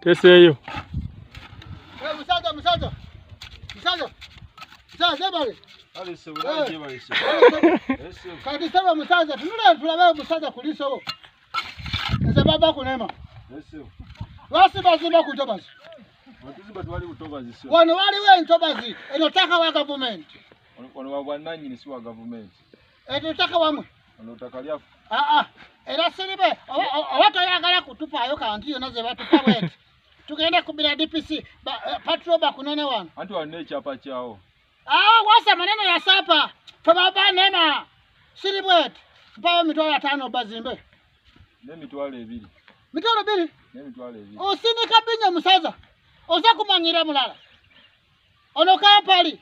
Teseeyo. Eh, musaza musaza. Musaza. Musaza sebale. Kale sebale eh. sebale. Eh, Kati sebale musaza tunula tulabe musaza kuliso. Nze baba kunema. Yesu. Wasi bazimba ku ntobazi. Batuzimba twali ku ntobazi sio. Wano waliwo entobazi enotaka wa gavumenti. Wano wa bwannannyini si wa gavumenti. Eto taka wamwe. Ono taka lyafu. Ah ah. Era siribe oba toyagala kutupaayo kantu yona ze batupa bwete. Tugenda kubira DPC eh, patrol bakunone wano. Anti wanne ekyapa kyawo. Ah wasa maneno ya sapa. Fababa nema. Siri bwete. Mpayo mitwalo ataano bazimbe. Ne mitwalo ebiri. Mitwalo ebiri? Ne mitwalo ebiri. Osinika binya musaza. Oza kumanyira mulala. Ono kampali.